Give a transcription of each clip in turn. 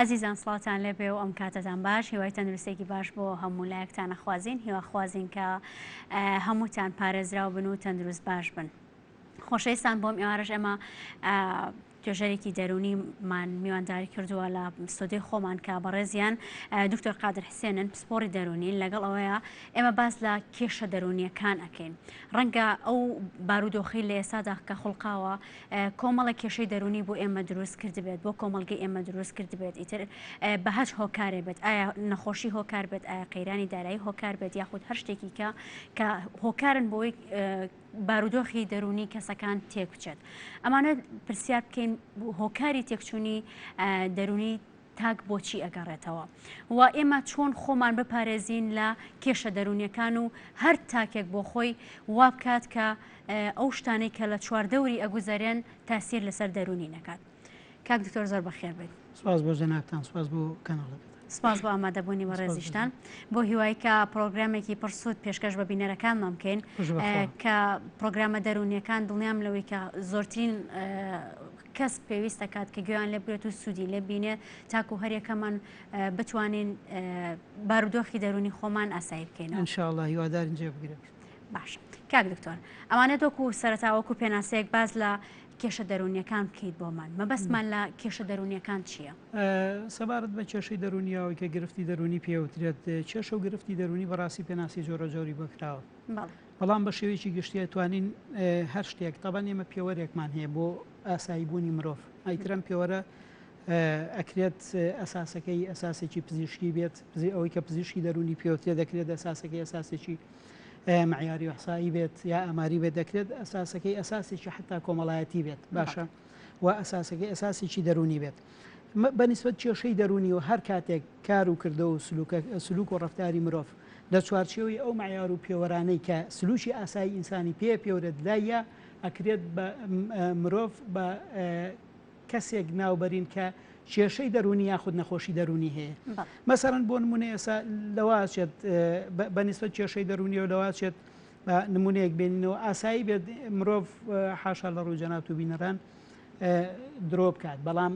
ئەزیزان سڵاوتان لێبێ و ئەم کاتەتان باش هیوای تەندروستێکی باش بۆ هەموو لایەکتانە خوازیین هیواخوازیین کە هەمووتان پارێزراو بن و تەندروست باش بن. خۆشەویستان بۆم ئێوارش ئەمە توێژەرێکی دەروونی مان میوانداری کردووە لە ستۆدیۆی خۆمان کە بەڕێزیان دکتۆر قادر حسێنن پسپۆری دەروونین لەگەڵ ئەوەیە ئێمە باس لە کێشە دەروونیەکان ئەکەین ڕەنگە ئەو بارودۆخی لە ئێسادا کە خڵقاوە کۆمەڵە کێشەی دەروونی بۆ ئێمە دروست کردبێت بۆ کۆمەلگەی ئێمە دروست کردبێت ئیتر بە هەچ هۆکارێ بێت ئایا نەخۆشی هۆکار بێت ئایا قەیرانی دارایی هۆکار بێت یاخود هەر شتێکی کە کە هۆکارن بۆی بارودۆخی دەروونی کەسەکان تێک بچێت ئەمانە پرسیار بکەین هۆکاری تێکچوونی دەروونی تاک بۆچی ئەگەڕێتەوە و ئێمە چۆن خۆمان بپارێزین لە کێشە دەرونیەکان و هەر تاکێک بۆ خۆی وابکات کە ئەو شتانەی کە لە چواردەوری ئەگوزەرێن تاسیر لەسەر دەرونی نەکات. کاک دکتۆر زۆر بەخێر بێت سپاس بۆ جەنابان سپاس بۆ کەناڵەکە سپاس بۆ ئامادەبوونی بە ڕێزیشتان بۆ هیوایکە پرۆگرامێکی پرسوود پێشکەش بە بینەرەکانمان بکەین کە پرۆگرامە دەرونیەکان دڵنیام لەوەی کە زۆرترین کەس پێویست دەکات کە گوێیان لە بێت و سوودی لە بینێ تاکو هەریەکەمان بتوانین بارودۆخی دەرونی خۆمان ئاسایی بکەین انشاءله هیوادارین جێ بگرێت باش کاک دکتۆر ئەوانە دۆکو سەرتاوەکو پێناسەیەک باز لە کێشە دەروونیەکان بکەیت بۆمان مەبەستمان لە کێشە دەروونیەکان چیە؟ سەبارەت بە کێشەی دەروونی ئەوەی کە گرفتی دەروونی پێ وترێت کێشە و گرفتی دەروونی بەڕاستی پێناسی جۆرە جۆری بۆ کراوە بەڵام بە شێوەیەکی گشتی ئەتوانین هەر شتێک تەبەن ئێمە پێوەرێکمان هەیە بۆ ئاسایی بوونی مرۆڤ ئایترم پێوەرە ئەکرێت ئەساسەکەی ئەساسێکی پزیشکی بێت پزی ئەوەی کە پزیشکی دەروونی پێوترێ دەکرێت ئەساسەکەی ئەساسێکی مەعیاری ئیحسایی بێت یا ئاماری بێت دەکرێت ئەساسەکەی ئەساسێکی حتا کۆمەڵایەتی بێت باشە و ئەساسەکەی ئەساسێکی دەرونی بێت بەنیسبەت کێشەی دەرونی و هەر کاتێک کار و کردە و سلوک و ڕفتاری مرۆڤ لە چوارچێوی ئەو معیار و پێوەرانەی کە سلوکی ئاسایی ئینسانی پێ پێورە لایە ئەکرێت بە مرۆڤ بە کەسێک ناوبەرین کە کێشەی دەروونی یاخود نەخۆشی دەروونی هەیە مەسەرەن بۆ نمونە ئێسا لەواچێت بەنیسبەت کێشەی دەروونی و لەواچێت نمونەیەک بێنینەوە ئاسایی بێت مرۆڤ حاشا لە ڕووی جەنات و بینەران درۆ بکات بەڵام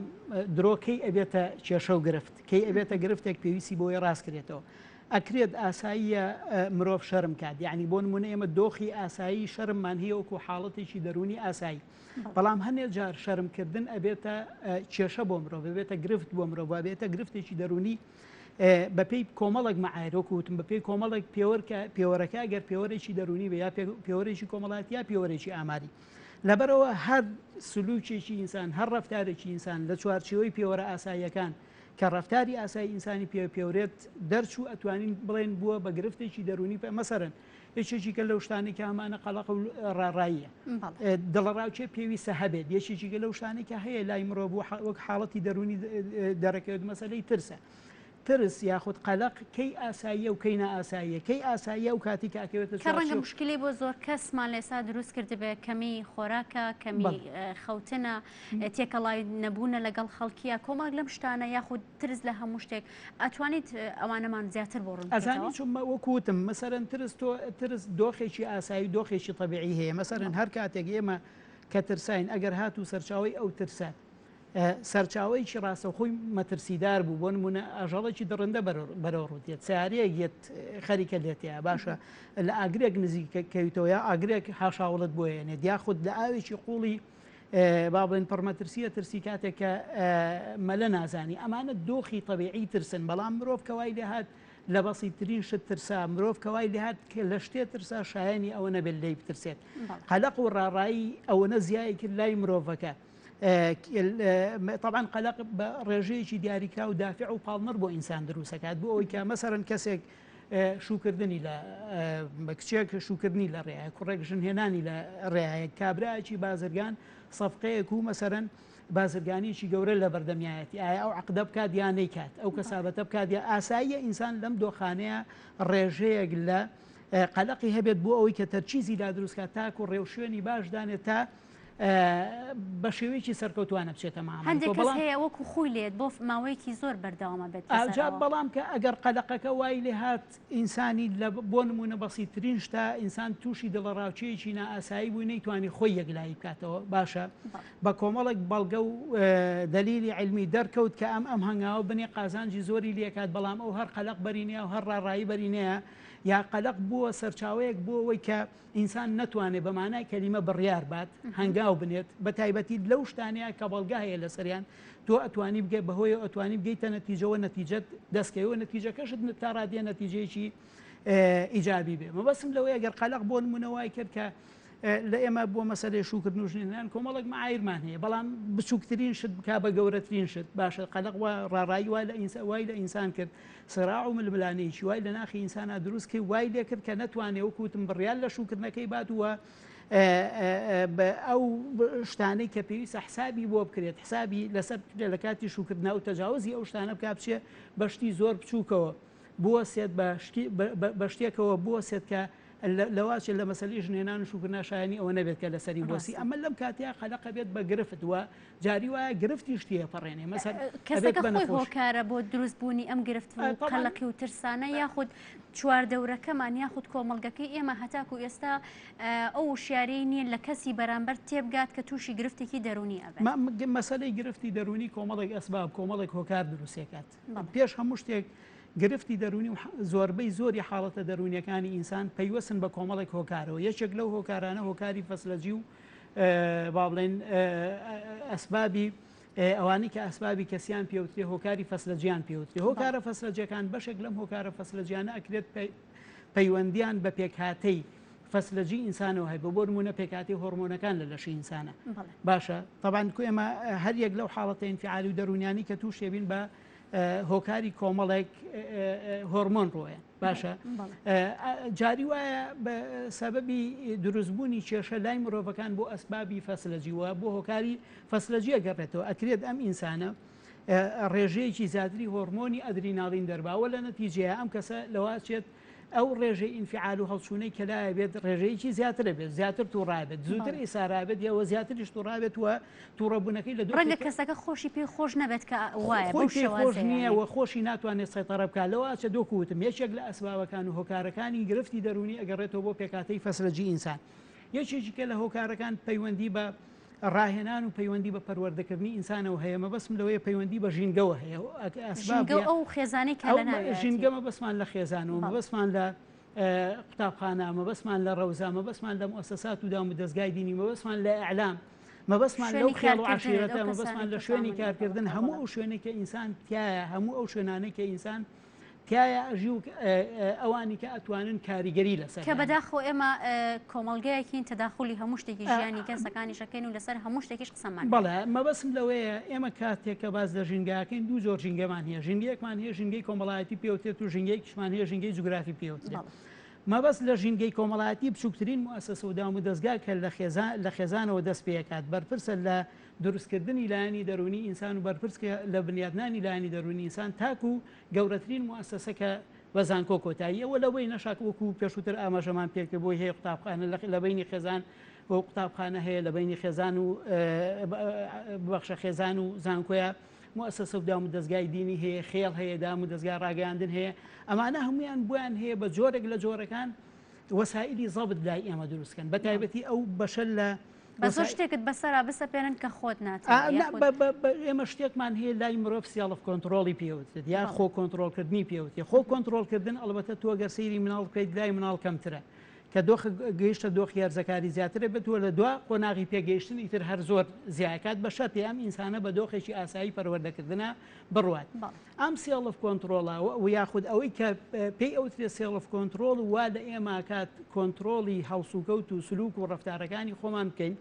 درۆکەی ئەبێتە کێشە و گرفت کەی ئەبێتە گرفتێک پێویستی بۆی ڕاستکرێتەوە ئەکرێت ئاساییە مرۆڤ شەرم کات یعنی بۆ نمونە ئێمە دۆخی ئاسایی شەرممان هەیە وەکو حاڵەتێکی دەرونی ئاسایی بەڵام هەنێ جار شەرم کردن ئەبێتە کێشە بۆ مرۆڤ بێتە گرفت بۆ مرۆڤ بێتە گرفتێکی دەرونی بەپی کۆمەڵک مەعایرۆک وتم بەپی کۆمەڵک پێوەرکە پێوەرەکە گەر پێوەرێکی دەرونی بە یا پێوەرێکی کۆمەڵات یا پێوەرێکی ئاماری لەبەرەوە هەر سلوکێکی ئینسان هەر ڕفتارێکی ئینسان لە چوارچەوەی پێوەرە ئاساییەکان کە ڕفتاری ئاسای ئینسانی پێ پێورێت دەرچوو ئەتوانین بڵێن بووە بە گرفتێکی دەرونی پێ مەسەرن یەکێکی گەل لەو شتانی کە ئەمانە قەڵق و ڕاڕاییە دڵەڕاوکێ پێویستە هەبێت یەکێکی گە لەو شتانی کە هەیە لای مرۆڤ وەک حاڵەتی دەرونی دەرەکەوت مەسلەی ترسە. ترس یاخود قەلق کەی ئاساییە و کەی نائاساییە کەی ئاساییە و کاتی کاکەوێتە کە ڕەنگە مشکلی بۆ زۆر کەسمان لێسا دروست کردبێ کەمی خۆراکە کەمی خەوتنە تێکەڵای نەبوونە لەگەڵ خەڵکیە کۆمەڵک لەم شتانە یاخود ترس لە هەموو شتێک ئەتوانیت ئەوانەمان زیاتر بۆ ڕوون ئەزانی چون وەکو وتم مەسەرەن ترس تۆ ترس دۆخێکی ئاسایی و دۆخێکی طبیعی هەیە مەسەرەن هەر کاتێک ئێمە کە ترساین ئەگەر هات و سەرچاوی ئەو ترسە سەرچاوەیەکی ڕاستەخۆی مەترسیدار بوو بۆ نمونە ئاژەڵێکی دڕندە بەرەو ڕووتێت ساریەک یەت خەریکە لێتەیە باشە لە ئاگرێک نزیکەکەویتەوە یا ئاگرێک حاشاوڵت بۆیێنێت یاخود لە ئاوێکی قوڵی با بڵێن پڕ مەترسییە، ترسی کاتێک کە مەلە نازانی. ئەمانە دۆخی تەبیعیی ترسن، بەڵام مرۆڤ کە وای لێ هات لە بەسیتترین شت ترسا، مرۆڤ کە وای لێ هات کە لە شتێ ترسا، شایەنی ئەوە نەبێت لێی بترسێت. قەلەق و ڕاڕایی ئەوەنە زیای کرد لای مرۆڤەکە، تەبعەن قەلەق بە ڕێژەیەکی دیاریکراو دافع و پاڵنەر بۆ ئینسان دروست ئەکات، بۆ ئەوەی کە مەسەلەن کەسێک، شووکردنی لە کچێک شووکردنی لە ڕێیە کوڕێک ژن هێنانی لە ڕێایە کابراایکی بازرگان سەفقەیەک و مەسەرەن بازرگانیکی گەورە لە بەردەمیایەتی ئایا ئەو عقدە بکات یانەی کات ئەو کەسابەتە بکات یا ئاساییە ئینسان لەم دۆخانەیە ڕێژەیەک لە قەلقی هەبێت بۆ ئەوەی کە تەرچیزی لا دروستکات تاکو ڕێوشوێنی باش دانێت تا بە شێوەیەکی سەرکەوتوانە بچێتە مامەڵ هەندێک کەس بەڵام هەیە وەکو خۆی لێت بۆ ماوەیەکی زۆر بەردەوامە بێت ئاجا لەسەرەوە. بەڵام کە ئەگەر قەدەقەکە وای لێ هات ئینسانی لە بۆ نمونە بەسیترین شتە ئینسان تووشی دڵەڕاوکێیەکی نائاسایی بووی نەیتوانی خۆی یەکلایی بکاتەوە باشە بە کۆمەڵێک بەڵگە و دەلیلی عیلمی دەرکەوت کە ئەم ئەم هەنگاوە بنێ قازانجی زۆری لێ کات بەڵام ئەو هەر قەلەق بەرینەیە و هەر ڕاڕایی بەرینەیە یا قەلەق بووە سەرچاوەیەک بۆ ئەوەی کە ئینسان نەتوانێت بە مانای کەلیمە بڕیار بات، هەنگاو بنێت، بەتایبەتی لەو شتانەیا کە بەڵگە هەیە لەسەریان، تۆ ئەتوانی بگەی بەهۆیەوە ئەتوانی بگەیتە نەتیجەوە نەتیجەت دەستکەوێ و نەتیجەکەشت تا ڕادەیە نەتیجەیەکی ئیجابی بێ مەبەستم لەوەیە گەر قەلەق بۆ نموونە وای کرد کە لە ئێمە بۆ مەسەلەی شوکردن و ژنێنان کۆمەڵێک معایرمان هەیە بەڵام بچووکترین شت بکا بە گەورەترین شت باشە قەلەق وا ڕاڕایی وا لە ئینسا وای لە ئینسان کرد سراع و ململانێیەکی وای لە ناخی ئینسانا دروست کرد، وای لێ کرد کە نەتوانێ وەکو وتم بڕیار لە شووکردنەکەی بات و ئەو شتانەی کە پێویستە حسابی بۆ بکرێت حسابی لەسەر بکرێت لە کاتی شووکردنا و تەجاوزی ئەو شتانە بک بچێ بە شتی زۆر بچووکەوە بووە سێت بە شتێکەوە بووە سێت کە لەواچێت لە مەسلی ژنێنان و شووکردنا شایانی ئەوە نەبێت کە لەسەری بۆسی ئەمە لەم کاتیا قەلەقە بێت بە گرفت وە جاری وایە گرفتیش تێپەڕێنێ مەسەر کەسەکە خۆی هۆکارە بۆ دروست بوونی ئەم گرفت و قەلەقی و ترسانە یاخود چواردەورەکەمان یاخود کۆمەڵگەکەی ئێمە هەتاکو ئێستا ئەو وشیاری نییە لە کەسی بەرامبەر تێبگات کە تووشی گرفتێکی دەرونی ئەبێ مەسلەی گرفتی دەرونی کۆمەڵێک ئەسباب کۆمەڵێک هۆکار دروستێکات پێش هەموو شتێک گرفتی دەرونی و زۆربەی زۆری حاڵەتە دەرونیەکانی ئینسان پەیوەسن بە کۆمەڵێک هۆکارەوە یەکێک لەو هۆکارانە هۆکاری فەسلەجی و با بڵێین ئەسبابی ئەوانەی کە ئەسبابی کەسیان پێوترێ هۆکاری فەسلەجیان پێوترێ هۆکارە فەسلەجەکان بەشێک لەم هۆکارە فەسلەجیانە ئەکرێت پەیوەندیان بە پێکهاتەی فەسلەجی ئینسانەوە هەیە بۆ نمونە پێکاتی هۆرمۆنەکان لە لەشی ئینسانە باشە تەبان کو ئێمە هەر یەک لەو حاڵەتە ئینفعالی و دەرونیانی کە تووشێبین بە هۆکاری کۆمەڵێک هۆرمۆن ڕۆیە باشە جاری وایە بە سەبەبی دروستبوونی کێشە لای مرۆڤەکان بۆ ئەسبابی فەسلەجیوە بۆ هۆکاری فەسلەجیە گەڕێتەوە ئەکرێت ئەم ئینسانە ڕێژەیەکی زیاتری هۆرمۆنی ئەدریناڵین دەرباوە لە نەتیجەیە ئەم کەسە لەواچێت ئەو ڕێژەی ئینفعال و هەڵچوونەی کەلایە بێت ڕێژەیەکی زیاترە بێت زیاتر تووڕابێت زووتر ئیسارابێت یەوە زیاتریش تووڕابێت وە تووڕەبوونەکەی لە ڕەنگە کەسەکە خۆشی پێی خۆش نەبێت کە وایە خۆی پێی خۆش نییە و خۆشی ناتوانێت سەیتەڕە بکات لەوە ئاچە دۆکو وتم یەکێک لە ئەسبابەکان و هۆکارەکانی گرفتی دەروونی ئەگەڕێتەوە بۆ پێکهاتەی فەسلجی ئینسان یەکێکیکە لە هۆکارەکان پەیوەندی بە ڕاهێنان و پەیوەندی بە پەروەردەکردنی ئینسانەوە هەیە مەبەسم لەوەیە پەیوەندی بە ژینگەوە هەیە ئەسباب ژینگە ئەو خێزانەی کە لە ناوێ ژینگەمە بەسمان لە خێزانەوە مەبەسمان لە قوتابخانە، مەبەستمان لە ڕەوزە، مەبەستمان لە موئەسەسات و دام و دەزگای دینی، مەبەستمان لە ئیعلام، مەبەستمان لەو خێڵ و عەشیرەتە، مەبەستمان لە شوێنی کارکردن، هەموو ئەو شوێنێک کە ئینسان تایە، هەموو ئەو شوێنانەی کە ئینسان تایە ئەژی و ئەوانی کە ئەتوانن کاریگەری لەسەر کە بەداخۆ ئێمە کۆمەلگایەکین تەداخلی هەموو شتێکی ژیانی کەسەکانی شەکەین و لەسەر هەموو شتێکیش سەمەر. بەڵێ، مەبەستم لەوەیە ئێمە کاتێک کە باس لە ژینگە ئەکەین دوو جۆر ژینگەمان هەیە، ژینگەیەکمان هەیە ژینگەی کۆمەڵایەتی پێ وترێت و ژینگەیەکیشمان هەیە ژینگەی جوگرافی پێ وترێت. مەبەست لە ژینگەی کۆمەڵایەتی بچووکترین موئەسەسە و دامودەزگا کە لە خێزان لە خێزانەوە دەست پێ ئەکات، بەرپرسە لە دروستکردنی لایەنی دەروونی ئینسان و بەرپرسکە لە بنیاتنانی لایەنی دەروونی ئینسان تاکوو گەورەترین موئەسەسە کە بە زانکۆ کۆتایی ئەوە لەوەی نەشاک وەکوو پێشووتر ئاماژەمان پێ کرد بۆی هەیە قوتابخانە لە لە بەینی خێزان و قوتابخانە هەیە لە بەینی خێزان و ببەخشە خێزان و زانکۆیە موسسە و دام و دەزگای دینی هەیە خێڵ هەیە دام و دەزگای ڕاگەیاندن هەیە ئەمانە هەمویان بۆیان هەیە بە جۆرێک لە جۆرەکان وەسائلی زەبت لای ئێمە دروستکەن بە تایبەتی ئەو بەشە لە بەسۆ شتێکت بەسەرا بسەپێنن کە خۆت نات ئێمە شتێکمان هەیە لای مرۆڤ سیاڵف کۆنتترۆلی پێوتێت یا خۆ کۆنتترۆلکردنی پێوتێ خۆ کۆنتترۆلکردن ئەڵبەتە تۆگەر سەیری مناڵ بکەیت لای مناڵ کەمترە کە دۆخ گەیشتە دۆخی هەرزەکاری زیاترە بێت و لە دوا قۆناغی پێگەیشتن ئیتر هەر زۆر زیاکات بە شەرتی ئەم ئینسانە بە دۆخێکی ئاسایی پەروەردەکردنا بڕوات ئەم سێڵف کۆنتڕۆڵە و یاخود ئەوەی کە پێی ئەوترێت سێڵف کۆنتڕۆڵ وا لە ئێماکات کۆنتڕۆڵی هەڵسوکەوت و سلوک و ڕفتارەکانی خۆمان بکەین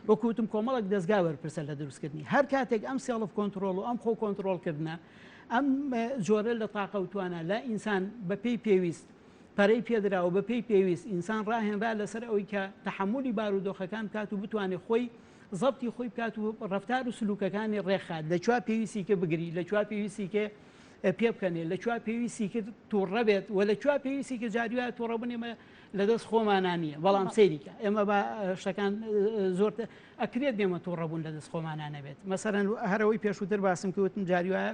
وەکوتم کۆمەڵک دەستگا وەرپرسە لە دروستکردنی هەر کاتێک ئەم سێڵف کۆنتترۆل و ئەم خۆ کۆنتترۆلکردە ئەم جۆرە لە تاقە و توانە لە ئینسان بەپی پێویست پەرەی پێدرا و بەپێی پێویست ئینسان ڕاهێنرا لەسەر ئەوەی کە تەحەمولی بارودۆخەکان بکات و بتوانێت خۆی زەبتی خۆی بکات و ڕەفتار و سلوکەکانی ڕێکخات لە کوێ پێویستی کرد بگری لە کوێ پێویستی کرد پێبکەنێ لە کوێ پێویستی کرد تووڕە بێت و لە کوێ پێویستی کرد جاری وایە تووڕە بوون ئێمە لەدەست خۆمانە نییە بەڵام سەیریکە ئێمە بە شتەکان زۆر ئەکرێت بێمە تووڕە بوون لەدەست خۆمانە نەبێت مەسەرەن هەرەوەی پێشووتر باسم کەوتم جاری وایە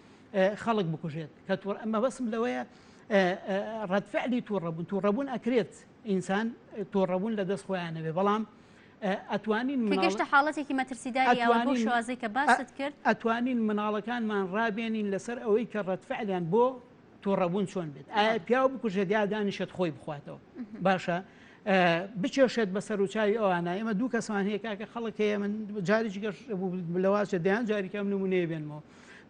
خەڵک بکوژێت کە تۆ ئەمە بەسم لەوەیە ڕەتفعلی تووڕەبوون تووڕەبوون ئەکرێت ئینسان تۆڕەبوون لە دەست خۆیانەوێ بەڵام ئەتوانین گەشتە حاڵەتێکی مەترسیداریوانەوە شوازێکە باست کرد ئەتوانین مناڵەکانمان ڕابێنین لەسەر ئەوەی کە ڕەتفعلیان بۆ تۆڕەبوون چۆن بێت ئایا پیاو بکوژێت یا دانیشێت خۆی بخواتەوە باشە بچێشێت بە سەرچوی ئەوانە ئێمە دوو کەسمان هەیە کاکە خەڵک هەیە من جاریش گەشت بوو لەواچە دەیان جاریکەم نمونەیە بێنمەوە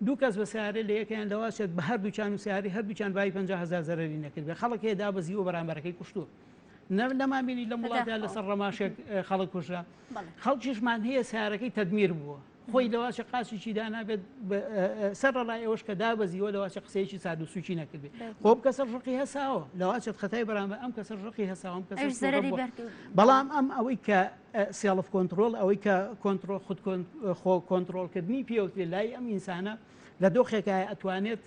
دوو کەس بە سەیارە لە یەکەیان لەواز چێت بە هەردووکیان و سەیارەی هەردووکیان بای پەنجا هەزار زەرەری نەکردبێت، خەڵک هەیە دابەزیوە بەرامبەرەکەی کوشتووە. نە نەمان بینی لەم وڵاتە لەداخەوە. لەسەر ڕەماشێک ئێ، خەڵک کوژرا. بەڵێ. خەڵکیشمان هەیە سەیارەکەی تەدمیر بووە، خۆی لەواچێ قاچیکی دانابێت بە ئە ئە ئە سەرەڕای ئەوەش کە دابەزیوە لەواچێ قسەیەکی ساد و سووکی نەکردبێت. بەس خۆ ئەم بوو. کەسەش ڕقی هەساوە، لەواچێت خەتای بەرامبەر ئەم کەسەش ڕقی هەساوە، ئەم کەسەش ئەویش زەرەری تووڕە بووە. بەردبوو. بەڵام ئەم ئەوەی کە سێڵف کۆنتڕۆڵ ئەوەی کە کۆنتڕۆڵ خود خۆ کۆنتڕۆڵکردنی پێوترێ لای ئەم ئینسانە لە دۆخێکایە ئەتوانێت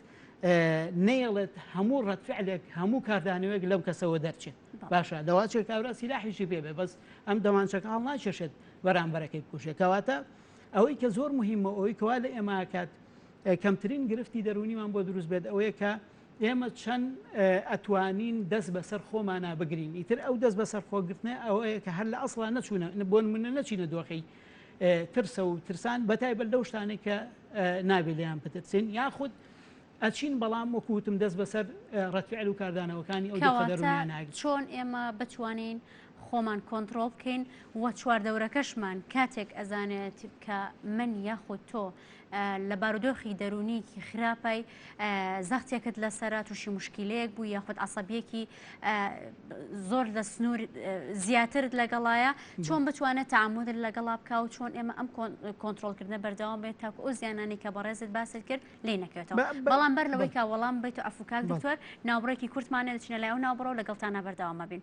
نەیەڵێت هەموو ڕەتفعلێک هەموو کاردانەوەیەک لەم کەسەوە دەرچێت باشە دەواچێت کابرا سیلاحیشی پێ بێ بەس ئەم دەمانچەکە هەڵ ناکێشێت بەرامبەرەکەی بکوژێت کەواتە ئەوەی کە زۆر مهمە ئەوەی کەوا لە ئێماکات کەمترین گرفتی دەرونیمان بۆ دروست بێت ئەوەیە کە ئێمە چەند ئەتوانین دەست بەسەر خۆمانا بگرین، ئیتر ئەو دەست بەسەر خۆ گرتنە ئەوەیە کە هەر لە ئەسڵا نەچوونە بۆ نمونە نەچینە دۆخی ترسە و ترسان بەتایبەت لەو شتانێک کە نابێ لێیان بترسین یاخود ئەچین بەڵام وەکوتم دەست بەسەر ڕەتفعل و کاردانەوەکانی ئەو دەرونیاناگرین چۆن ئێمە بتوانین خۆمان کۆنتترۆل بکەین و چواردەورەکەشمان کاتێک ئەزانێت کە من یاخود تۆ لە بارودۆخی دەروونیکی خراپای زەختێکت لەسەرە تووشی مشکلەیەک بوو یاخود عسەبیەکی زۆر لە سنوور زیاترت لەگەڵایە چۆن بتوانێت تعامودر لەگەڵا بکە و چۆن ئێمە ئەم کۆنتترۆلکردنە بەردەوام بێت تاکو ئەو زیانانی کە بەڕێزت باست کرد لی نەکەێتەوە بەڵام بەر لەوەی کا وەڵام بیت و ئەفکاک دکتۆر ناوبڕێکی کورتمانە دەچینە لای و ناوبڕەوە لەگەڵتانە بەردەوامە بین.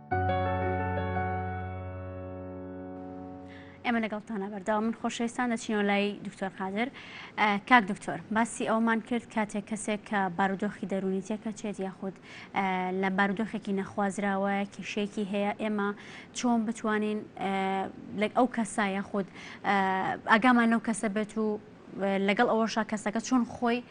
ئێمە لەگەڵتانە بەرداوە من خۆشەویستان دەچینەوە لای دکتۆر قادر کاک دکتۆر باسی ئەومان کرد کاتێک کەسێک کە بارودۆخی دەرونی تێکە چێت یاخود لە بارودۆخێکی نەخوازراوە کیشێکی هەیە ئێمە چۆن بتوانین لە ئەو کەسە یاخود ئاگامان لەو کەسە بێت و لەگەڵ ئەوەشا کەسەکە چۆن خۆی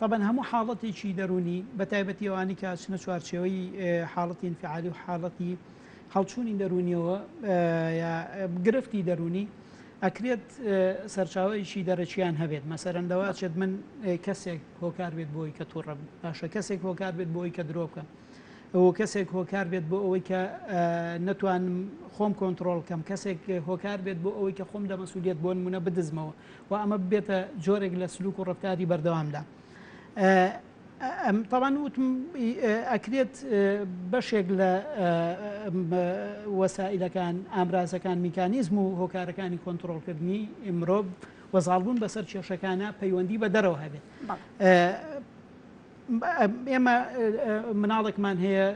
تەبەن هەموو حاڵەتێکی دەروونی بە تایبەتی ئەوانەی کە ئەچنە چوارچێوەی حاڵەتی ئینفعالی و حاڵەتی هەڵچوونی دەروونیەوە یا گرفتی دەروونی ئەکرێت سەرچاوەیەکی دەرەکیان هەبێت مەسەرەن لەوە ئەچێت من کەسێک هۆکار بێت بۆی کە تووڕە بم باشە کەسێک هۆکار بێت بۆی کە درۆ بکەم ئەوە کەسێک هۆکار بێت بۆ ئەوەی کە نەتوانم خۆم کۆنتترۆل کەم کەسێک هۆکار بێت بۆ ئەوەی کە خۆم لە مەسوولێت بۆن منە بدزمەوە و ئەمە ببێتە جۆرێک لە سلوک و ڕەفتاری بەردەوامدا تاوان وتم ئەکرێت بەشێک لە وەسائلەکان ئامرازەکان میکانیزم و هۆکارەکانی کۆنتترۆلکردنی مرۆڤ وەزاڵبوون بەسەر کێشەکانە پەیوەندی بە دەرەوە هەبێت ئێمە مناڵێکمان هەیە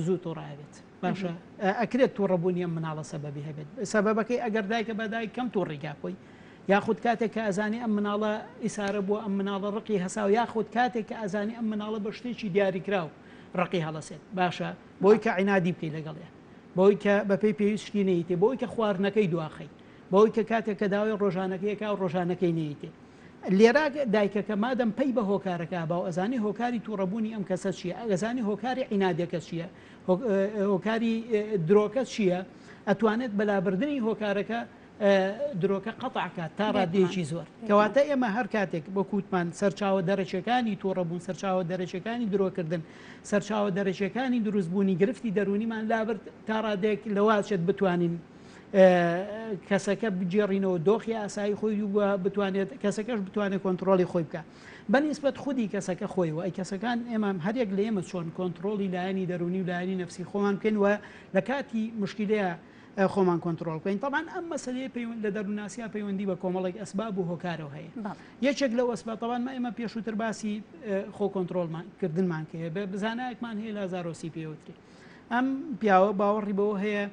زوو تۆڕایێت باشە ئەکرێت توڕە بوونی ئەم مناڵە سەبەبی هەبێت سەبەبەکەی ئەگەر دایکە بە دایک کەم توڕی کا خۆی یاخود کاتێک کە ئەزانی ئەم مناڵە ئیسارە بووە ئەم مناڵە ڕقی هەسا و یاخود کاتێک کە ئەزانی ئەم مناڵە بە شتێکی دیاریکراو ڕقی هەڵەسێت باشە بۆی کە عینادی بکەی لەگەڵێ بۆی کە بەپی پێویست شتی نەیتێ بۆی کە خواردنەکەی دواخەی بۆی کە کاتێک کە داوای ڕۆژانەکەیەکە و ڕۆژانەکەی نەیتێ لێرا دایکەکە مادەم پەی بە هۆکارەکە باو ئەزانی هۆکاری تووڕەبوونی ئەم کەسە چیە ئەگەزانی هۆکاری عینادەکە چیە هۆکاری درۆکە چییە؟ ئەتوانێت بە لابردنی هۆکارەکە درۆکە قەتع کات تا ڕاددەیەکی زۆر. کەواتە ئێمە هەر کاتێک وەکو وتمان سەرچاوە دەرەکیەکانی توڕەبوون، سەرچاوە دەرەکیەکانی درۆکردن، سەرچاوە دەرەکیەکانی دروستبوونی گرفتی دەروونیمان لابرد تا ڕادەیەک لەوەچێت بتوانین کەسەکە بگێڕینەوە دۆخی ئاسایی خۆی و بتوانێت کەسەکەش بتوانێت کۆنتڕۆڵی خۆی بکات. بە نیسبەت خودی کەسەکە خۆی و ئەی کەسەکان، ئێمە هەر یەک لە ئێمە چۆن کۆنتڕۆڵی لایەنی دەروونی و لایەنی نەفسی خۆمان بکەین و لە کاتی موشکیلەیا خۆمان کۆنتڕۆڵ بکەین. تەبعەن ئەم مەسەلەیە پەیوە لە دەروونناسیا پەیوەندی بە کۆمەڵێک ئەسباب و هۆکارەوە هەیە. یەکێک لەو ئەسباب، تەبعەن مە ئێمە پێشووتر باسی خۆ کۆنتڕۆڵمان کردنمان کە بە بزانایەکمان هەیە لازارۆسی پێی وترێ. ئەم پیاوە باوەڕی بەوە هەیە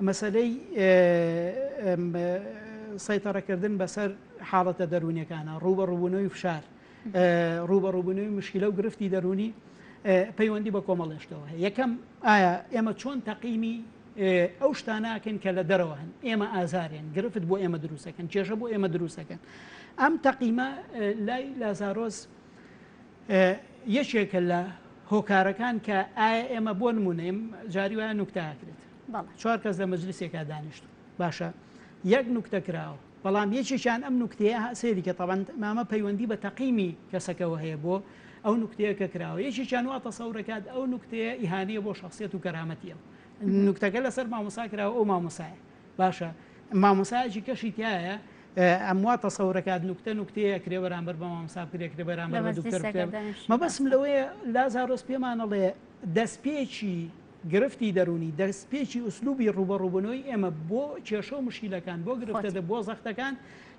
مەسەلەی سەیتەڕەکردن بەسەر حاڵەتە دەروونەکانە ڕوو بە ڕووبوونەوەی فشار ڕوو بە ڕووبوونەوەی مشکلە و گرفتی دەرونی پەیوەندی بە کۆمەڵێشتەوە هەیە یەکەم ئایا ئێمە چۆن تەقیمی ئەو شتاناکەن کە لە دەرەوە هەن ئێمە ئازارێن گرفت بۆ ئێمە دروستەکەن کێشە بۆ ئێمە دروستەکەن ئەم تەقیمە لای لازارۆز یەکێکە لە هۆکارەکان کە ئایا ئێمە بۆ نمونەیم جاری وایە نوکتاکرێت چوار کەس لە مەجلسێکا دانیشت باشە یەک نوکتە کراوە بەڵام یەکێکیان ئەم نوکتەیە سێری کە تەبند مامە پەیوەندی بە تەقیمی کەسەکەەوە هەیە بۆ ئەو نوکتەیە کە کراوە یەکێکیان وا تەسەورەکات ئەو نوکتەیە ئیهانەیە بۆ شخصیت و کەرامەتیە نوکتەکە لەسەر مامۆسا کراوە ئەو مامۆسایە باشە مامۆسایەکی کەشی تایە ئەموا تەسەورەکات نوکتە نوکتەیە کرێ بەرامبەر بە مامسا کرێ کرێ بەرامبەر بە دکتۆر مەبەسم لەوەیە لازارۆس پێمانەڵێ دەستپێکی گرفتی دەرونی دەستپێکی ئوسلوبی ڕوبەڕوبنەوەی ئێمە بۆ کێشە و مشیلەکان بۆ گرفتە دە بۆ زەختەکان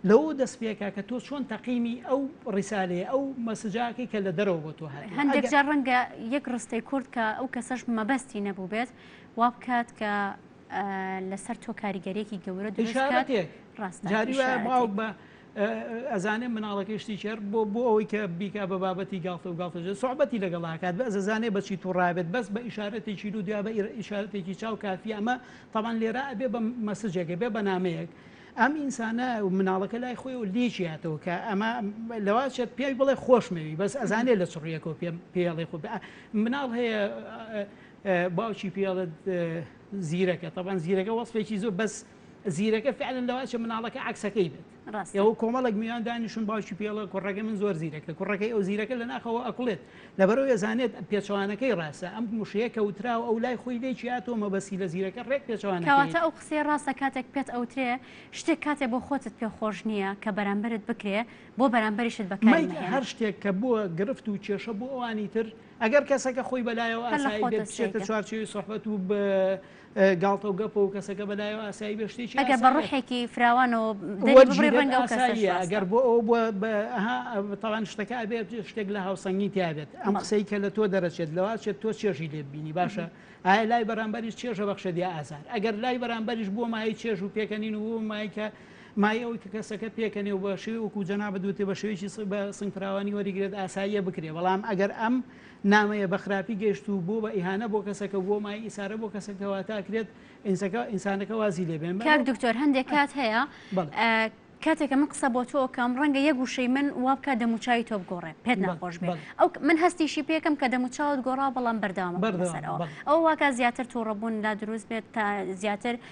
لەو دەستپێکە کە تۆ چۆن تەقیمی ئەو ڕیسالێ ئەو مەسجاکی کە لە دەرەوە بۆ تۆ هەر هەندێک جار ڕەنگە یەک ڕستەی کورد کە ئەو کەسەش مەبەستی نەبوو بێت وا بکات کە لەسەر تۆ کاریگەریەکی گەورە دروستکات ڕاست جاری وایە باوک بە ئەزانێ مناڵەکەی شتی چێر بۆ بۆ ئەوەی کە بیکا بە بابەتی گاڵتە و گاڵتەژێ سوعبەتی لەگەڵاکات بە ئەزانێ بەچی توڕابێت بەس بە ئیشارەتێکی رو دیا بە ئیشارەتێکی چاو کافی ئەمە تاوان لێرا ئەبێ بە مەسجێکە بێ بەنامەیەک ئەم ئینسانە مناڵەکە لای خۆی و لێکیاتەوە کە ئەمە لەواچێت پێی بڵێ خۆشمەوی بەس ئەزانێ لە چڕیەکەوە پێم پێڵێ خۆ مناڵ هەیە باوکی پێ ئەڵێت زیرەکە تەبان زیرەکە وەسفێکی زۆر بەس زیرەکە فعلن لەواچە مناڵەکە عکسەکەی بێت ئەو کۆمەڵک میان دانیشون باوکی پێڵە کوڕەکە من زۆر زیرەکە کوڕەکەی ئەو زیرەکە لە ناخەوە ئەکڵێت لەبەرەوە ێزانێت پێچوانەکەی ڕاستە ئەم مشەیە کەوترا و ئەو لای خۆی لێکی هاتۆ مەبەسی لە زیرەکە ڕێک پێچوانەکەواتە ئەو قسێ ڕاستە کاتێک پێت ئەوترێ شتێک کاتێ بۆ خۆتت پێ خۆش نییە کە بەرامبرت بکرێ بۆ بەرامبەریشت بەکاری هەر شتێک کە بووە گرفت و کێشە بۆ ئەوانی تر ئەگەر کەسەکە خۆی بە لایەوە هەر لە ئاسایی بێت، خۆتە بچێتە سەیرە. چوارچێوەی سوحبەت و ب گاڵتە و گەپە و کەسەکە بە لایەوە ئاسایی بێت، شتێکی ئەگەر بە ئاسایە. ڕوحێکی فراوانەوە دەری ببڕی وەرگیرێت ڕەنگە ئەو کەسە ئاساییە، شازتە. ئەگەر بۆ ئەوە بووە ب ئەها ئەو تاوان شتەکە ئەبێت شتێک لە هاوسەنگی تیا بێت. ئەم بەڵێ. قسەی کە لە تۆ دەرەچێت لەوە ئەچێت تۆ چێژی لێ ببینی باشە؟ ئایا لای بەرامبەریش چێژە بەخشێت یا ئازار؟ ئەگەر لای بەرامبەریش بۆ مایەی چێژ و پێکەنین و بۆ مایەی کە مایە ئەوەی کە کەسەکە پێکەنێ و بە شێوەی وەکوو جەنابت وتی بە شێوەیەکی بە سنگفراوانی وەریگرێت ئاساییە بکرێ بەڵام ئەگەر ئەم نامەیە بە خراپی گەیشت و بووە بە ئیهانە بۆ کەسەکە و بووە مایەی ئیسارە بۆ کەسەکە کەواتە ئەکرێت ئینسەکە ئینسانەکە وازی لێ بێن کاک دکتۆر هەندێک کات هەیە بەڵێ کاتێکە من قسە بۆ تۆ کەم ڕەنگە یەک وشەی من وا بکە دەموچوی تۆ بگۆڕێ پێت ناخۆش بێت ئەو من هەستیشی پێکەم کە دەموچاوت گۆڕا بەڵام بەرداوام بەردەسەرەوە ئەو واکە زیاتر تووڕەبوون لا دروست بێت تا زیاتر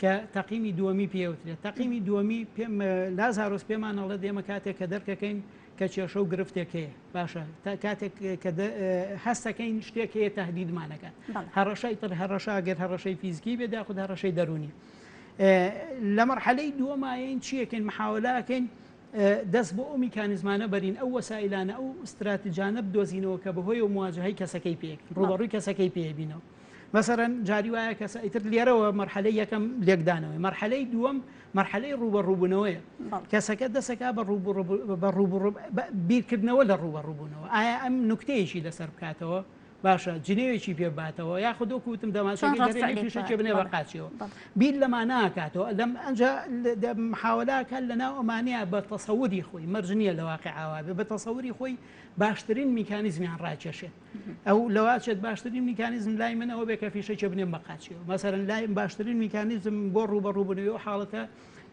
کە تەقیمی دووەمی پێ ئەوترێت تەقیمی دووەمی پێم لازارۆس پێمان ئەڵێت ئێمە کاتێک کە دەرکەکەین کە کێشە و گرفتێک هەیە باشە تا کاتێک کە هەستەکەین شتێک هەیە تهدیدمانەکە هەڕەشای تر هەڕەشا گەر هەڕەشەی فیزیکی بێت یاخود هەڕەشەی دەرونی لە مەرحەلەی دووەمایەین چیەکەین محاولەکەین دەست بۆ ئەو میکانزمانە بەرین ئەو وەسایلانە ئەو استراتیجانە بدۆزینەوە کە بەهۆی و مواجهی کەسەکەی پێکەین ڕوبەڕووی کەسەکەی پێبینەوە مەسەلەن جاری وایە کەسە ئیتر لێرەوە مەرحەلەی یەکەم لێکدانەوەی مەرحەلەی دووەم مەرحەلەی ڕووبە ڕووبوونەوەیە کەسەکە دەسەکە بە ڕوو بە ڕوو بیرکردنەوە لە ڕووبە ڕووبوونەوە ئایا ئەم نکتەیەکی لەسەر بکاتەوە باشە جنێوێکی پێ باتەوە یا خودۆ کوتم دەماشەکەشێ بنێ بە قاچەوە بیر لەما ناکاتەوە لەم ئەنج محاولاکە لە ناو ئەمانەیە بە تەسەوری خۆی مەرجنیە لە واقع ئاوا بێ بە تەسەوری خۆی باشترین میکانیزمیان ڕاکێشێت ئەو لەوە ئەچێت باشترین میکانیزم لای من ئەوە بێ کە فیشەکێ بنێم بە قاچیەوە مەسەرەن لایم باشترین میکانیزم بۆ ڕوبەڕووبنەوەی و حاڵەتە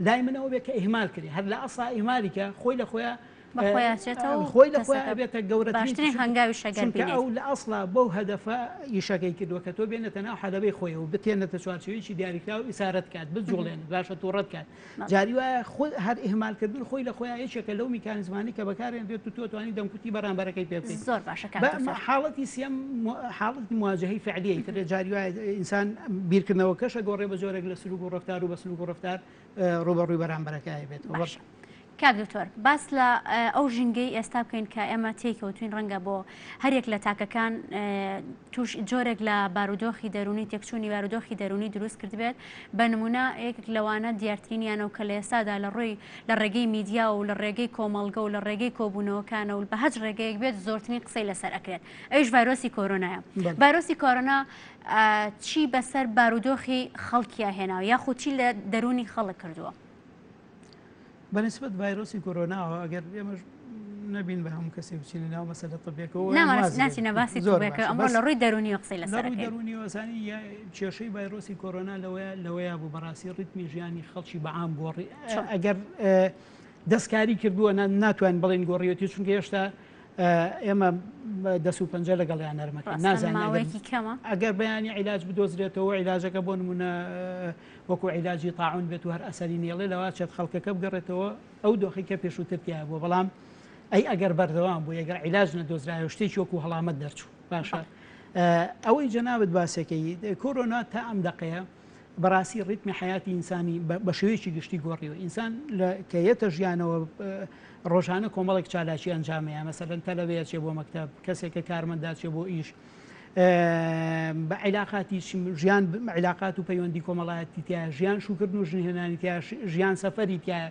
لای من ئەوە بێ کە ئیهمال کرێ هەر لە ئەسا ئیمالیکە خۆی لە خۆیان بەخۆیانچێتەوە خۆی لە خۆیان ئەبێتە گەورەترین هەنگاوی شەگەرکە ئەو لە ئەسڵا بەو هەدەفە یشەکەی کردووە کە تۆ بێنێتە ناو حەلەبەی خۆی و بتێنێتە چوارچویی دیاریکراو ئیسارەت کات بجوڵێن باشە تووڕەت کات جاری وایە خود هەر ئیهمال کردن خۆی لە خۆیان یەکێکە لەو میکانیزمانەی کە بەکارێنرێت و تۆ توانی دەمکوتی بەرامبەرەکەی پێ بکەیت زۆر باشە کاک بە دکتۆر. مە- حاڵەتی سیەم مو- حاڵەتی مواجهەی فعلیی تر جاری وایە ئینسان بیرکردنەوەکەش ئەگۆڕێ بە جۆرێک لە سلوک و ڕەفتار و بە سلوک و ڕەفتار اه، ڕووبەڕووی بەرامبەرەکەی بێتەوە باشە. کاک دکتۆر باس لە ئەو ژینگەی ئێستا بکەین کە ئێمە تێی کەوتوین ڕەنگە بۆ هەریەک لە تاکەکان توش جۆرێک لە بارودۆخی دەرونی تێکچوونی بارودۆخی دەرونی دروست کردبێت بە نمونە یەکێک لەوانە دیارترینیانە و کە لە ئێستادا لە ڕووی لە ڕێگەی میدیا و لە ڕێگەی کۆمەڵگە و لە ڕێگەی کۆبوونەوەکانە و بە هەج ڕێگەیەک بێت زۆرترین قسەی لەسەر ئەکرێت ئەوش ڤایرۆسی کۆرۆنایە ڤایرۆسی کۆرۆنا چی بەسەر بارودۆخی خەڵکیە هێناوە یاخود چی لە دەرونی خەڵک کردووە بەنیسبەت ڤایرۆسی کۆرۆناوە ئەگەر ئێمەش نەبین بە هەموو کەسێک بچینە ناو مەسەلە طبیەکەەوە ناچینە باسی زۆرەکە ئەمڕۆ لە ڕووی دەرونی قسەی لە ڕووی دەرونی وەسانی کێشەی ڤایرۆسی کۆرۆنا لەوەیە لەوەیە بوو بەڕاستی ڕیتمی ژیانی خەڵکی بەعام گۆڕی ئەگەر دەستکاری کردووە ناتوان بڵێن گۆڕیەتی چونکە هێشتا ئێمە دەس و پەنجە لەگەڵیان نەرمەکە نازانەوەی کەمە ئەگەر بەیانی عیلاج بدۆزرێتەوە عیلاجەکە بۆ نمونە وەکو عیلاجی تاعون بێت و هەر ئەسەری نێڵێ لەوە ئەچێت خەڵکەکە بگەڕێتەوە ئەو دۆخەی کە پێشووتر تیا بووە بەڵام ئەی ئەگەر بەردەوام بوو ئەگەر عیلاج نەدۆزرایەوە شتێکی وەکو هەڵامەت دەرچوو باشە ئەوەی جەنابەت باسەکەی کۆرۆنا تا ئەم دەقەیە بەڕاستی ڕیتمی حیاتی ئینسانی بە شێوەیەکی گشتی گۆڕیوە ئینسان کە یەتە ژیانەوە ڕۆژانە کۆمەڵێک چالاکی ئەنجامەیە مەسەرەن تەلەوەیە چێ بۆ مەکتب کەسێکە کارمەنداچێ بۆ ئیش بە عیلاقاتی ژیان عیلاقات و پەیوەندی کۆمەڵایەتی تیا ژیان شوکردن و ژنهێنانی تیا ژیان سەفەری تیا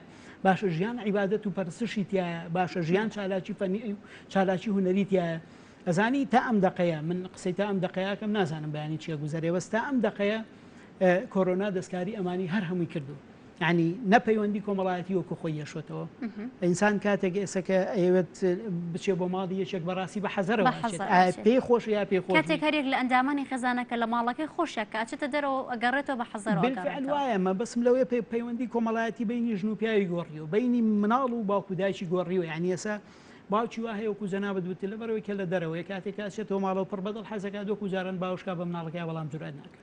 باشە ژیان عیبادەت و پەرسشی تیا باشە ژیان چالاکی فەنی چالاکی هوەری تیا ئەزانی تا ئەم دقەیە من قسەی تا ئەم دقەیەکەم نازانم بەیانی چیە گوزارێ بەستا ئەم دقەیە کۆرۆنا دەستکاری ئەمانی هەر هەمووی کردو یانی نە پەیوەندی کۆمەڵایەتی وەکو خۆی یەشۆتەوە ئینسان کاتێک ئێسەکە ئەیەوێت بچێ بۆ ماڵی یەکێک بەڕاستی بە حەزەرەوە پێ خۆش یا پێ خۆ کاتێک هەرێک لە ئەندامانی خێزانەکە لە ماڵەکەی خۆشە کاچێتە دەرەوە ئەگەڕێتەوە بە حەزەرەوەمە بەسم لەوەیە پێ پەیوەندی کۆمەڵایەتی بینی ژن و پیاوی گۆڕی و بینی مناڵ و باوکو دایکی گۆڕی و یعنی ئێسا باوکی وا هەیەکو جەنا بدوت لە بەرەوەی کە لە دەرەوەی کاتێک کاچێتەوە ماڵەوە پڕ بەدڵ حەزەکە دۆکو جاران باوشکا بە مناڵەکە بەڵام جورئەت ناکە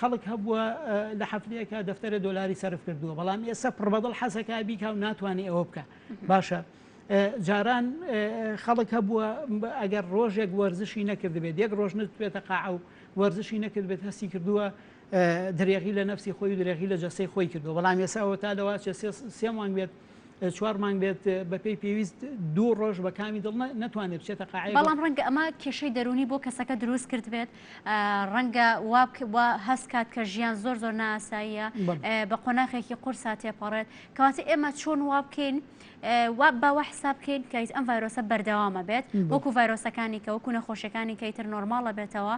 خەڵک هەبووە لە هەفتەیەکا دەفتەرە دۆلاری سەرف کردووە بەڵام ئێستا پڕبەدڵ حەزەکە بیکا و ناتوانێ ئەوە بکە باشە جاران خەڵک هەبووە ئەگەر ڕۆژێک وەرزشی نەکردبێت یەک ڕۆژ نتوێتە قاع و وەرزشی نەکردبێت هەستی کردووە درێغی لە نفسی خۆی درێغی لە جەسەی خۆی کردو بەڵام ێساەوە تا لەواچێ سێ مانگ بێت چوار مانگ بێت بەپی پێویست دوو ڕۆژ بە کامی دڵ ناتوانێت بچێتە قاعی بەڵام ڕەنگە ئەمە کێشەی دەرونی بۆ کەسەکە دروست کرد بێت ڕەنگە واب هەست کات کە ژیان زۆر زۆر ناساییە بە قۆناخێکی قورسا تێپەڕێت کەواتە ئێمە چۆن وا بکەین وا باوە حساب بکەین کەیت ئەم ڤایرۆسە بەردەوامە بێت وەکو ڤایرۆسەکانی کە وەکو نەخۆشیەکانی کەیتر نۆرماڵە بێتەوە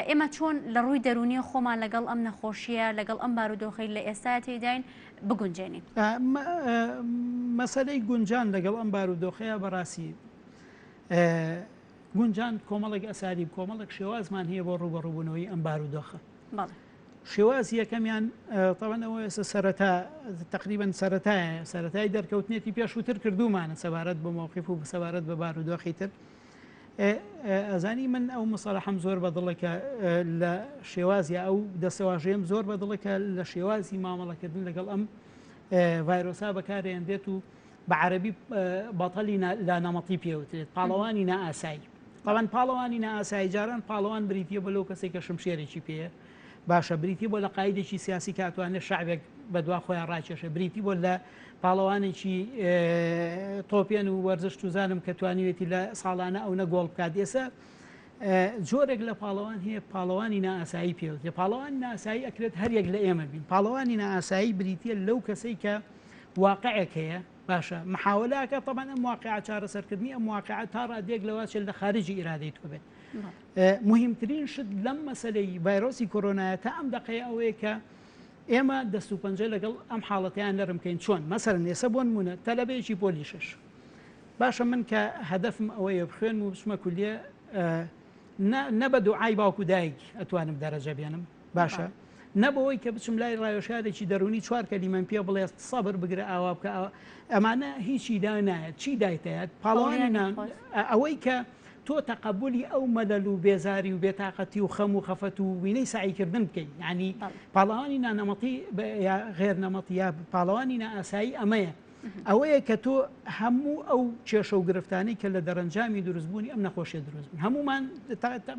ئێمە چۆن لە ڕووی دەرونی خۆمان لەگەڵ ئەم نەخۆشیە لەگەڵ ئەم بارودۆخی لە ئێستا تێداین بگونجێنین. مەسەلەی گونجان لەگەڵ ئەم بارودۆخەیە بەڕاستی گونجان کۆمەڵێک ئەسالیب کۆمەڵێک شێوازمان هەیە بۆ ڕوبەڕوبوونەوەی ئەم بارودۆخە شێواز یەکەمیان تەوانەوە ئێستا سەرەتا تقریبن سەتایە سەتای دەرکەوتنێتی پێشووتر کردومانە سەبارەت بە مۆقیف و سەبارەت بە بارودۆخی تر ئەزانی من ئەو مسەلحەم زۆر بە دڵێکە لە شێوازی ئەو دەسەواژەیەم زۆر بە دڵێکە لە شێوازی مامەڵەکردن لەگەڵ ئەم ڤایرۆسا بەکارێن دێت و بە عەربی بەتەلی لا نەمەتی پێوترێت پاڵەوانی نائاسایی تاوان پاڵەوانی نائاسایی جاران پاڵەوان بریتە بە لەو کەسێک کە شمشێرێکی پێەیە باشە بریتی بۆ لە قایدێکی سیاسی کە ئەتوانێت شعبێک بە دوا خۆیان ڕاکێشە بریتی بۆ لە پاڵەوانێکی تۆپێن و وەرزش توزانم کە توانیوێتی لە ساڵانە ئەو نە گۆڵ بکات ئێسە جۆرێک لە پاڵەوان هەیە پاڵەوانی ناسایی پێوت لە پاڵەوان ناسایی ئەکرێت هەریەک لە ئێمە بین پاڵەوانی ناسایی بریتە لەو کەسەی کە واقعێک هەیە باشە محاولاکە طبعا ئەم واقع چارەسەرکردنی ئەم واقع تا ڕادێک لەواچێت لە خارجی ئیرادەی تۆ بێت موهیمترین شت لەم مەسەلەی ڤایرۆسی کۆرۆنایە تا ئەم دەقەیە ئەوەیە کە ئێمە دەست و پەنجە لەگەڵ ئەم حاڵەتەیان نەرم کەین چۆن مەسەلەن ئێسە بۆ نمونە تەلەبەیەکی پۆلی شەش باشە من کە هەدەفم ئەوەیە بخوێنم و بچمە کولیە نە بە دوعای باوکو دایک ئەتوانم دەرەجە بێنم باشە نە بەوەی کە بچم لای ڕاوێژکارێکی دەروونی چوار کەلیمەم پێ بڵێ سەبر بگرە ئاوا بکە ئەوە ئەمانە هیچی دا نایەت چی دایتەیەت پاڵەوانی نان ئەوەی کە تۆ تەقبولی ئەو مەلەل و بێزاری و بێتاقەتی و خەم و خەفەت و وینەی سعیکردن بکەین ینی پاڵەوانی نانەمەتی غێر نەمەتی یا پاڵەوانی نائاسایی ئەمەیە ئەوەیە کە تۆ هەموو ئەو کێشە و گرفتانی کە لە دەرەنجامی دروستبوونی ئەم نەخۆشیە دروست بن هەمومان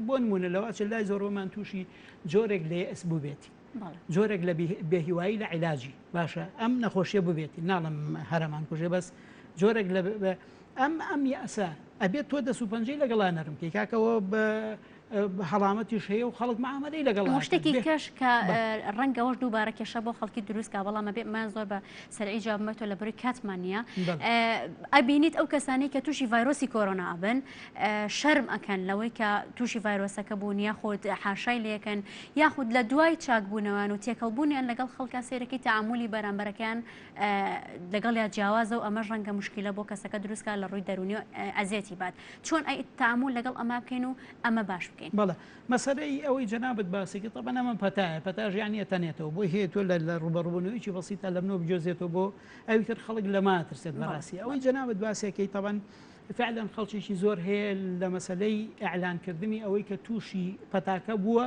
بۆ نمونە لەواچ لای زۆرۆمان تووشی جۆرێک لێ ئەس بووبێتی جۆرێک لە بێهیوایی لە عیلاجی باشە ئەم نەخۆشیە ببێتی ناڵم هەرمان کوژێ بەس جۆرێک لە ئەم ئەم یاسا ئەبێت تۆ دەسو پەنجەی لەگەڵا نەرم کەی کاکەەوە بە هەڵامەتیش هەیە و خەڵک معامەلەی لەگەڵ ئەکات. شتێکی کەش کە ڕەنگە ئەوەش دووبارە کێشە بۆ خەڵکی دروستکا بەڵام ئەبێ من زۆر بە سەرعی جوابمە تۆ لە بەروی کاتمان نییە ئەبینیت ئەو کەسانی کە تووشی ڤایرۆسی کۆرۆنا ئەبن شەرم ئەکەن لەوەی کە تووشی ڤایرۆسەکە بوون یاخود حاشای لەکەن یاخود لە دوای چاکبوونەوەیان و تێکەڵبوونیان لەگەڵ خەڵکە سێرەکەی تعاملی بەرامبەرەکەیان لەگەڵ یا جیاوازە و ئەمەش ڕەنگە مشکلە بۆ کەسەکە دروستکە لە ڕووی دەرونی ئەزیەتی بات چۆن ئەی تامول لەگەڵ ئەمە بکەین و ئەمە باش بکەین. بەڵێ مەسەلەی ئەوەی جەنابت باسی کرد تەبەن ئەمە پەتایە پەتا ژیانی ئەتەنێتەوە بۆی هەیە تۆ لە لە ڕوبەڕوبونەوەیەکی بەسیتا لە منەوە بگوێزێتەوە بۆ ئەوی تر خەڵک لەمە ئەترسێت بەڵێ بەڕاستی ئەوەی بەڵێ. جەنابت باسی ئەکەی تەبەن فعلەن خەڵکێکی زۆر هەیە لە مەسەلەی ئیعلان کردنی ئەوەی کە توشی پەتاکە بووە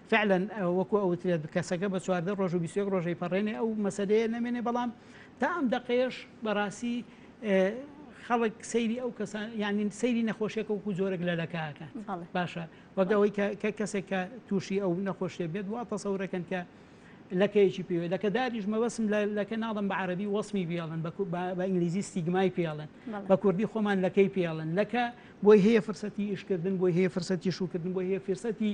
فعلا وەکو ئەوترێت کەسەکە بە چواردە ڕۆژ و بیست و یەک ڕۆژەی پەڕێنێ ئەو مەسەلەیە نەمێنێ بەڵام تا ئەم دەقەیەش بەڕاستی خەڵک سەیری ئەو کەسان یعنی سەیری نەخۆشیەکە وکو جۆرەك لە لەکەکە باشە وەگەوەی کە کەسێک کە تووشی ئەو نەخۆشیە بێت وا تەسەورەکەن کە لەکەیەکی پێوێت لەکە داریش مەبەسم لەکە ناڵم بە عربی وەسمی بێڵن بە ئینگلیزی ستیگمای پێڵن بە کوردی خۆمان لەکەی پێڵن لەکە بۆی هەیە فرسەتی ئیشکردن بۆی هەیە فرسەتی شوکردن بۆی هەیە فرسەتی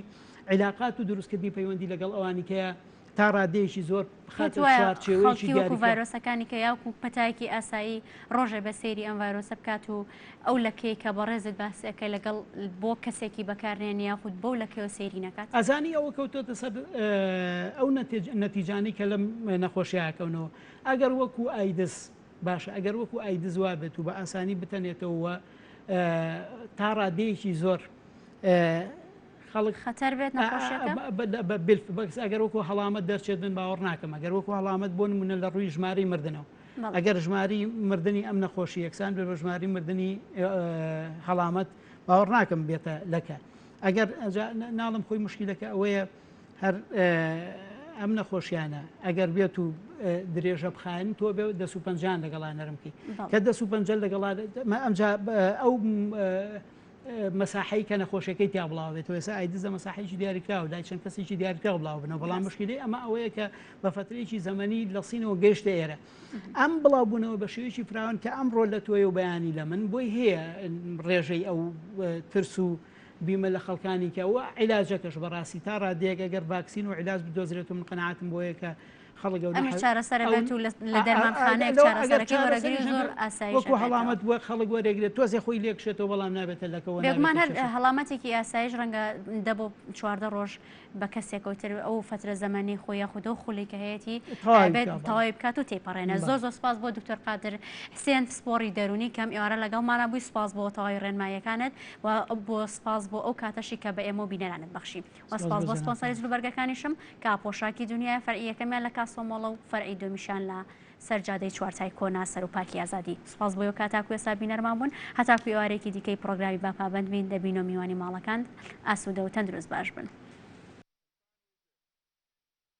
عیلاقات و دروستکردنی پەیوەندی لەگەڵ ئەوانی کەیە تا ڕادەیەکی زۆر بخاتە چوارچێوەیەکی دیاریکراو. ڤایرۆسەکانی کە یاوکو پەتایەکی ئاسایی ڕۆژێ بە سەیری ئەم ڤایرۆسە بکات و ئەو لەکەی کە بەڕێزت باسی ئەکەی لەگەڵ بۆ کەسێکی بەکارنێن یاخود بەو لەکەیەوە سەیری نەکات. ئەزانی ئەوە کەوتۆتە سەر ئەو نەتیجانەی کە لەم نەخۆشیە ئەکەونەوە. ئەگەر وەکو ئایدز باشە ئەگەر وەکو ئایدز وابێت و بە ئاسانی بتەنێتەوە و تا ڕادەیەکی زۆر خەڵک خەتەر بێت نەخۆشیەکە؟ بالفعل ئەگەر وەکو هەڵامەت دەرچێت من باوەڕ ناکەم ئەگەر وەکو هەڵامەت بۆ نمونە لە ڕووی ژماری مردنەوە ئەگەر ژماری مردنی ئەم نەخۆشی یەکسان بێ بە ژماری مردنی هەڵامەت باوەڕ ناکەم بێتە لەکە ئەگەر ناڵم خۆی مشکلەکە ئەوەیە هەر ئەم نەخۆشیانە ئەگەر بێت و درێژە بخایەن تۆ بێ دەسو پنجان لەگەڵا نەرمکی کە دەسو پنج لەگەڵا ئەمجا ئەو مەساحەی کە نەخۆشەکەی تیا بڵاو بێت و ئێسا ئایدز لە مەساحەیەکی دیاریکراوە لای چەند کەسێکی دیاریکراو بڵاو بنەوە بەڵام بەس. مشکلی ئەمە ئەوەیە کە بە فترەیەکی زەمەنی لە سینەوە گەیشتە ئێرە ئەم بڵاوبوونەوە بە شێوەیەکی فراوان کە ئەمڕۆ لە تۆی و بەیانی لە من بۆی هەیە ڕێژەی ئەو اه، ترس و بیمە لە خەڵکانی کە و عیلاجەکەش بەڕاستی تا ڕادەیەک ئەگەر ڤاکسین و عیلاج بدۆزرێت و من قەناعەتم بۆیە کە ئەمەش چارەسەرە بێت و لە دەرمانخانەیەک چارەسەرەکەی وەرەگری زۆر ئاسایی وەکو هەڵامەت وە خەڵک وەرەگرێت تۆزێ خۆی لێکشێتەوە بەڵام نابێتە لەکەەوە بێگومان هەر هەڵامەتێکی ئاسایش ڕەنگە دە بۆ چواردە ڕۆژ بە کەسێکەوتر ئەو فترە زەمەنی خۆی یاخودۆ خولی کە هەیەی بێت تەواوی بکات و تێپەڕێنە زۆر زۆر سپاس بۆ دکتۆر قادر حسێن پسپۆڕی دەرونی کەم ئێوارە لەگەڵمانە بووی سپاس بۆ تەواوی ڕێنماییەکانت و بۆ سپاس بۆ ئەو کاتەشی کە بە ئێمە و بینەرانت بەخشی سپاس بۆ سپۆنسەری جلوبەرگەکانیشم کە پۆشاکی دونیایە فەرعی یەکەمیان لە کاسۆ مۆڵە و فەرعی دومیشان لە سەر جادەی چوارتای کۆنە سەرو پارکی ئازادی سپاس بۆ یۆکا تاکو ئێستا بینەرمان بوون هەتاکو ئێوارێکی دیکەی پڕۆگرامی با پابەند بین دەبینۆ میوانی ماڵەکاند ئاسوودە و تەندروست باش بن.